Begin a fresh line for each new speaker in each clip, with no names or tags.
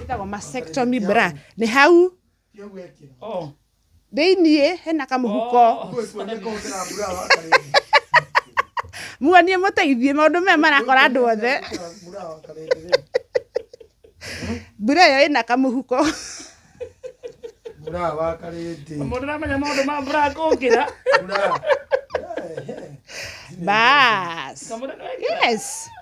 ĩtagwo mastectomy bra nĩ hau oh. thĩiniĩ hena kamũhuko muonie mũteithie maũndũ maya marakora andũ othe mbura ĩyo ĩna kamũhuko
mũndũ ramenya maũndũ
ma mbura kũngĩra
bas yes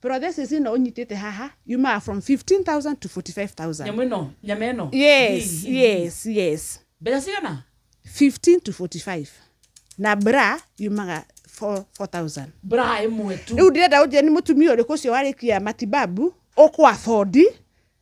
Prothesis ĩno ũnyitĩte haha yumaga from 15,000 to 45,000. Nyamũ ĩno, nyama ĩno.
Yes, yes,
yes. Mbeca cigana? 15 to 45. Na bra yumaga 4,000. Bra ĩmwe
tu. Rĩu ndĩrenda ũnjĩre nĩ mũtumia
ũrĩkũ ũcio warĩkia matibabu ũkwa bondi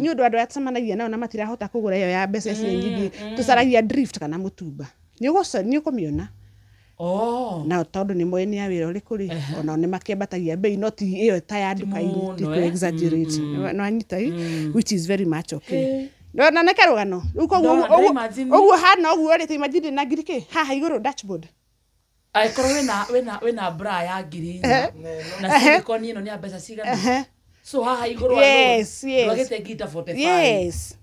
nĩ ũndũ andũ arĩa tũcemanagia nao na matirahota kũgũra ĩyo ya mbeca icio nyingĩ tũcaragia drift kana mũtumba nĩ ũgũco- nĩ ũkũmĩona Oh. na tondũ nĩ moĩ nĩ ya wĩra ũrĩkũ rĩ onao nĩ makĩambatagia mbei no ti ĩyo ta ya nduka-inĩ mũno, ti eh? kũ exaggerate no anyita ĩ which is very much okay Eh. No- na nĩ karũgano Rĩu koguo Ndona- ũguo- ndĩra imagine- ũguo hana ũguo rĩ ta imagine ndĩ na ngiri kĩ haha igũrũ dashboard angĩkorwo
wĩna wĩna wĩna bra ya ngiri inya Ehe. na Ehe. silicone ĩno nĩ ya mbeca cigana Ehe. so haha igũrũ Yes, yes. ndwagĩte ngita 45 yes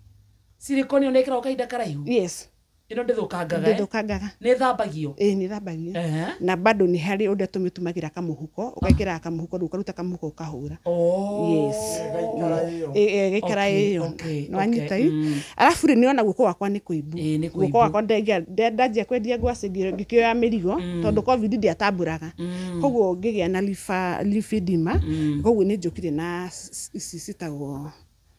silicone ĩyo nĩkĩrawo kahinda karaihu yes ĩno ndĩthũkangaga eh? ndĩthũkangaga nĩ thambagio ĩĩ nĩ thambagio Ehe.
na bado nĩ harĩ ũrĩa tũmĩtumagĩra kamũhuko ũgekĩraga kamũhuko rĩu ũkaruta kamũhuko ũkahu kũhũra Oh, yes gaikara ĩyo. Ĩ- ĩ, gĩkara Okay, ĩyo okay, okay, nĩwanyita ĩ mm. arabu rĩ nĩona guoko wakwa nĩ kũimbu Ĩ, nĩ kũimbu. guoko wakwa ndengia- nde- ndanjia kwendia ngwacĩ ngĩ- ngĩkĩoya mĩrigo tondũ covid ndiatambũraga koguo ngĩgĩa na lifa- lipedema koguo nĩ njũkire na s- s- ici citagwo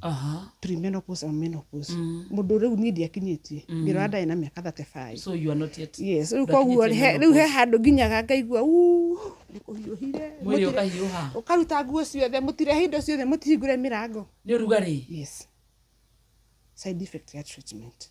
Aha. premenopause or menopause mũndũ rĩu niĩ ndiakinyĩtie ngĩrora ndarĩ na mĩaka 35 So you are not yet.
yes rĩu koguo he-
rĩu he handũ nginyaga ngaigua "Uu, nĩ kũhiũhire Mwĩrĩ Mũtire-
ũkahiũha. ũkaruta nguo ciothe
mũtirehe indo ciothe mũtihingũre mĩrango Nĩ ũrugarĩ. yes side effect ya treatment